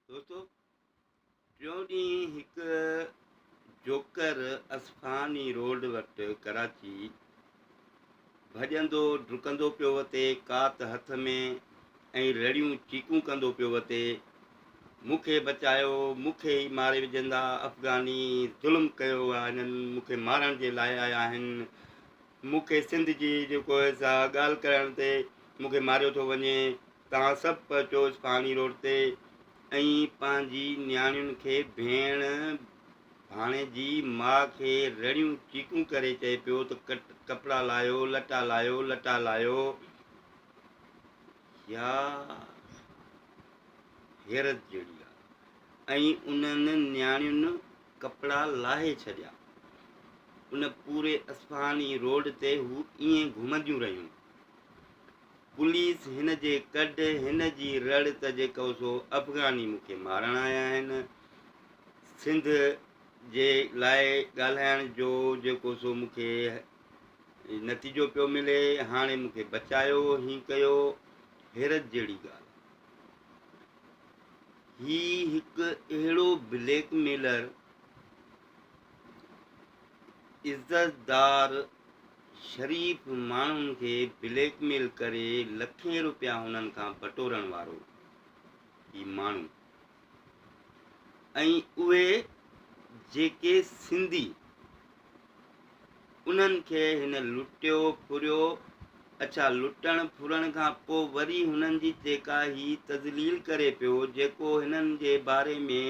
دوستو ٽيون ڏينهن هڪ جوڪر اصفهاني روڊ وٽ ڪراچي ڀڄندو ڊڪندو پيو وتي ڪات هٿ ۾ ۽ رڙيون چيڪون ڪندو پيو وتي مون کي بچايو مون کي ئي ماري وجهندا افغاني ظلم ڪيو آ هنن مون کي مارڻ جي لاء آيا آهن مون کي سنڌ جي جيڪو سا ڳالهه ڪرڻ تي مون کي ماريو ٿو وڃي توهان سڀ پهچو اصفهاني روڊ تي ۽ پنهنجي نياڻين کي ڀيڻ ڀاڻيجي ماء کي رڙيون چيڪون ڪري چئي پيو ته ڪٽ ڪپڙا لايو لٽا لايو لٽا لايو يا حيرت جهڙي ڳالهه ۽ انهن نياڻين ڪپڙا لاهي ڇڏيا ان پوري اصفهاني روڊ تي هو ائين گهمنديون رهيون پوليس هن جي ڪڍ هن جي رڙ ته جيڪو سو افغاني مون کي مارڻ آيا آهن سنڌ جي لاء ڳالهائڻ جو جيڪو سو مون کي نتيجو پيو ملي هاڻي مون کي بچايو هي ڪيو حيرت جهڙي ڳالهه هي هڪ اهڙو بليڪ ميلر عزتدار شريف ماڻهن کي بليڪ ميل ڪري لکين روپيا هنن کان بٽورڻ وارو هي ماڻهو ۽ اهي جيڪي سنڌي انهن کي هن لٽيو ڦريو اڇا لٽڻ ڦرڻ کان پوء وري هنن جي جيڪا هي تذليل ڪري پيو جيڪو هنن جي باري ۾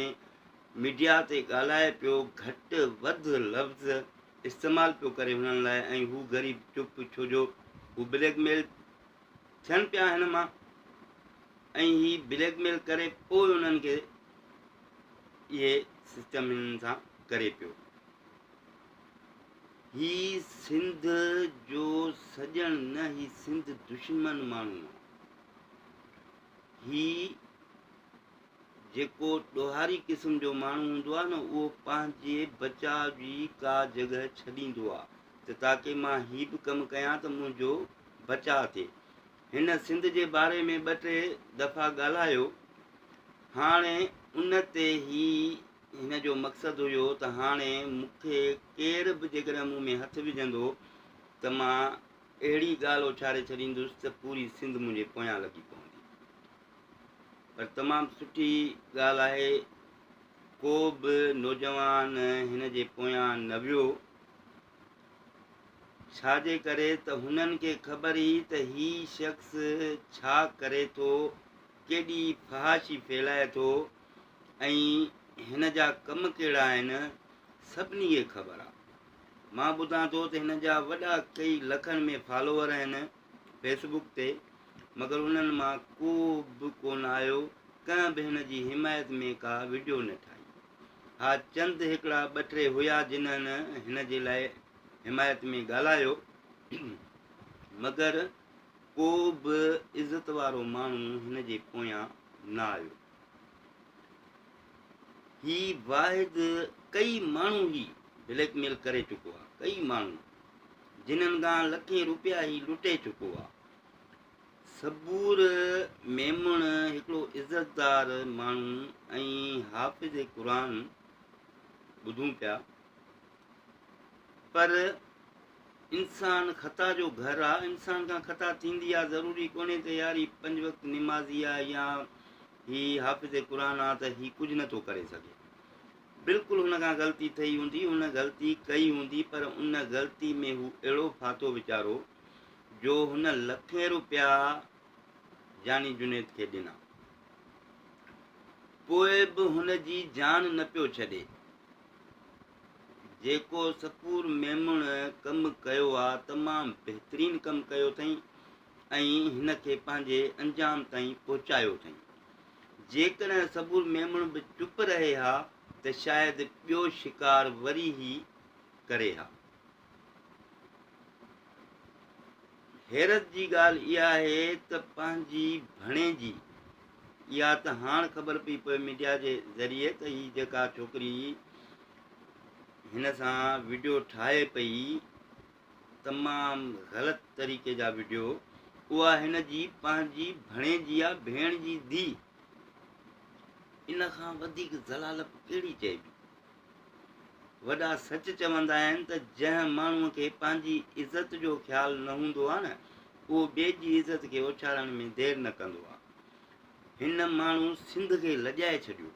ميڊيا تي ڳالهائي پيو گهٽ وڌ لفظ استعمال پيو ڪري هنن لاء ۽ هو غريب چپ ڇو جو هو بليڪ ميل ٿين پيا هن مان ۽ هي بليڪ ميل ڪري پوء انهن کي اهي سسٽم هنن سان ڪري پيو هي سنڌ جو سڄڻ نه هي سنڌ دشمن ماڻهو هي جيڪو ڏوهاري قسم جو ماڻهو هوندو آهي نه اهو پنهنجي بچاء جي ڪا جڳهه ڇڏيندو آهي ته تاڪه مان هي به ڪم ڪيان ته منهنجو بچاء ٿئي. هن سنڌ جي باري ۾ ٻه ٽي دفعا ڳالهايو. هاڻي ان تي هي هن جو مقصد هيو ته هاڻي مون کي ڪير به جيڪڏهن مون ۾ هٿ وجهندو ته مان اهڙي ڳالهه اڇاري ڇڏيندس ته پوري سنڌ منهنجي پويان لڳي پوندي. پر تمام سٺي ڳالهه آهي ڪو به نوجوان هن جي پويان نه ويو ڇا جي ڪري ته هنن کي خبر هئي ته هي شخص ڇا ڪري ٿو ڪيڏي فحاشي ڦيلائي ٿو ۽ هن جا ڪم ڪهڙا آهن سڀني کي خبر آهي مان ٻڌان ٿو ته هن جا وڏا ڪئي لکن ۾ فالوور آهن فيس بڪ تي مگر انهن مان ڪو به ڪونه آيو ڪنهن به هن جي حمايت ۾ ڪا وڊيو نه ٺاهي ها چند هڪڙا ٻه ٽي هيا جنهن هن جي لاء حمايت ۾ ڳالهايو مگر ڪو به عزت وارو ماڻهو هن جي پويان نه آيو هي واحد ڪئي ماڻهو هي بليڪ ميل ڪري چڪو آهي ڪئي ماڻهو جنھن کان لکين روپيا ھي لٽي چڪو آ. صبور ميمڻ ھڪڙو عزتدار ماڻھو ۽ حافظ قرآن ٻڌون پيا پر انسان خطا جو گھر آ انسان کان خطا ٿيندي آ ضروري ڪونھي ته يار ھي پنج وقت نمازي آ يا ھي حافظ قرآن آ ته ھي ڪجھ نٿو ڪري سگھي. بلڪل هن کان غلطي ٿئي هوندي، هن غلطي ڪئي هوندي پر ان غلطي ۾ هو اهڙو ڦاٿو ويچارو جو هن لکين روپيا جاني جنيد کي ڏنا پوء به هن جي جان نه پيو ڇڏي، جيڪو سپور ميمڻ ڪم ڪيو آ تمام بهترين ڪم ڪيو اٿئين، ۽ هن کي پنهنجي انجام تائين پهچايو اٿئي. جيڪڏهن سبور ميمڻ به چپ رهي ها ته شايد ٻيو شڪار وري هي ڪري ها. حيرت جي ڳالهه اها آهي ته پنهنجي ڀڻيجي اها ته هاڻ خبر پئي پوي ميڊيا جي ذريعي ته هي جيڪا ڇوڪري هن سان وڊيو ٺاهي پئي تمام غلط طريقي جا وڊيو اها هن جي پنهنجي ڀڻيجي يا ڀيڻ جي ڌي ان کان وڌيڪ ضلالت ڪهڙي چئبي وڏا سچ چوندا آهن ته جنهن ماڻهو کي پنهنجي عزت جو خيال نه هوندو آهي نه اهو ٻئي جي عزت کي اوڇاڙڻ ۾ دير نه ڪندو آهي هن ماڻهو سنڌ کي لڄائي ڇڏيو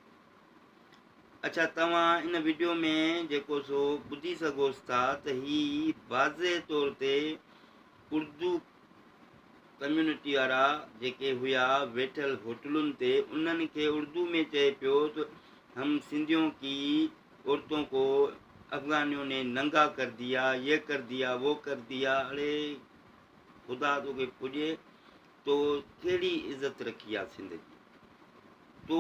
اڇا توهان ان وڊيو ۾ جيڪو سو ٻڌي سگهوس ٿا ته هي واضح طور تي اردو ڪميونٽي وارا جيڪي هيا ويٺل هوٽلن تي انهن کي اردو ۾ چئي پيو ته هم سنڌيون ڪي عورتون ڪو افغانيون ني ننگا ڪر ديا يه ڪر ديا وو ڪر ديا اڙي خدا توکي پڄي تو ڪهڙي عزت رکي آ سنڌ جي. تو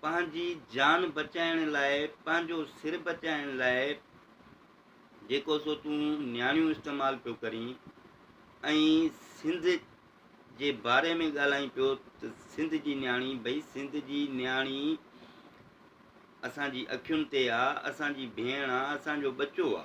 پنهنجي جان بچائڻ لاء پنهنجو سر بچائڻ لاء جيڪو سو تون نياڻيون استعمال پيو ڪرين ۽ سنڌ جي باري ۾ ڳالهائين پيو ته سنڌ جي نياڻي ڀئي سنڌ جي نياڻي اسان جي اکين تي آ اسان جي ڀيڻ آ اسان جو ٻچو آ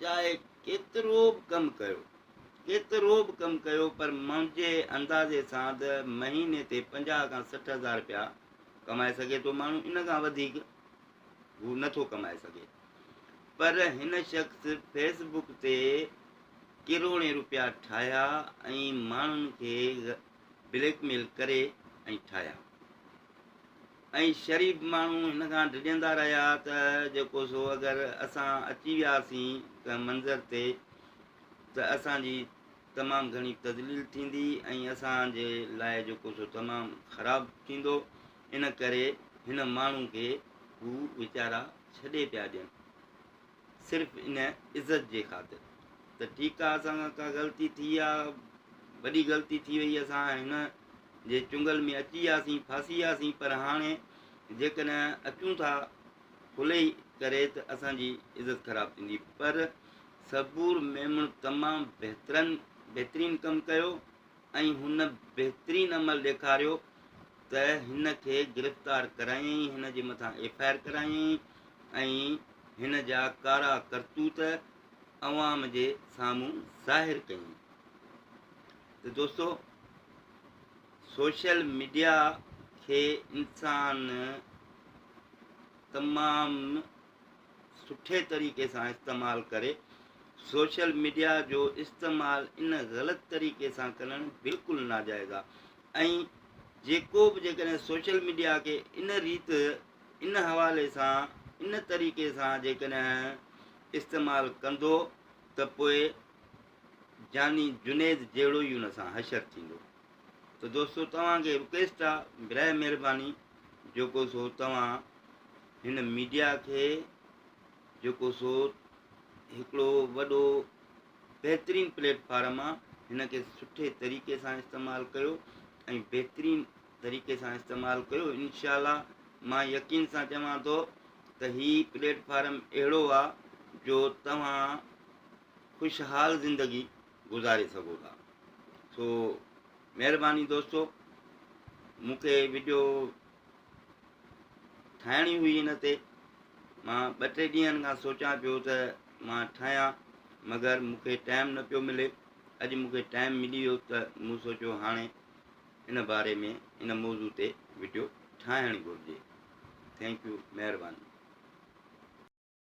چاهي ڪيترو به ڪم ڪيو، ڪيترو به ڪم ڪيو پر منهنجي اندازي سان ته مهيني تي پنجاهه کان سٺ هزار رپيا ڪمائي سگهي ٿو ماڻهو، ان کان وڌيڪ هو نه ٿو ڪمائي سگهي. پر هن شخص فيس بڪ تي ڪروڙين رپيا ٺاهيا ۽ ماڻهن کي بليڪ ميل ڪري ۽ ٺاهيا. ۽ شريف ماڻهو هن کان ڊڄندا رهيا ته جيڪو سو اگر اسان اچي وياسين ڪنهن منظر تي ته اسان جي تمام گهڻي تذليل ٿيندي ۽ اسان جي لاء جيڪو سو تمام خراب ٿيندو ان ڪري هن ماڻهو کي هو ويچارا ڇڏي پيا ڏين. صرف ان عزت جي خاطر ته ٺيڪ آ اسان کان ڪا غلطي ٿي آ وڏي غلطي ٿي وئي اسان هن جي چنگل ۾ اچي وياسين ڦاسي وياسين پر هاڻي جيڪڏهن اچون ٿا کلي ڪري ته اسان جي عزت خراب ٿيندي پر صبور ميمڻ تمام بهترن بهترين ڪم ڪيو ۽ هن بهترين عمل ڏيکاريو ته هن کي گرفتار ڪرايائين، هن جي مٿان ايف آء آر ڪرايائين ۽ هن جا ڪارا ڪرتوت عوام جي سامهون ظاهر ڪيائين ته دوستو سوشل ميڊيا کي انسان تمام سٺي طريقي سان استعمال ڪري سوشل ميڊيا جو استعمال ان غلط طريقي سان ڪرڻ بلڪل ناجائز آ ۽ جيڪو به جيڪڏهن سوشل ميڊيا کي ان ريت ان حوالي سان ان طريقي سان جيڪڏهن استعمال ڪندو ته پوء جاني جنيد جهڙو ئي ان سان حشر ٿيندو ته دوستو توهان کي رڪويسٽ آ برائي مهرباني جيڪو سو توهان هن ميڊيا کي جيڪو سو هڪڙو وڏو بهترين پليٽ فارم آ هن کي سٺي طريقي سان استعمال ڪيو ۽ بهترين طريقي سان استعمال ڪيو انشاء الله مان يقين سان چوان ٿو ته هي پليٽ فارم اهڙو آ جو توهان خوشحال زندگي گذاري سگهو ٿا سو مهرباني دوستو مون کي وڊيو ٺاهڻي هئي ان تي مان ٻه ٽي ڏينهن کان سوچان پيو ته مان ٺاهيان مگر مون کي ٽائم نه پيو ملي اڄ مون کي ٽائم ملي ويو ته مون سوچيو هاڻي ان باري ۾ ان موضوع تي وڊيو ٺاهڻ گهرجي ٿينڪ يو مهرباني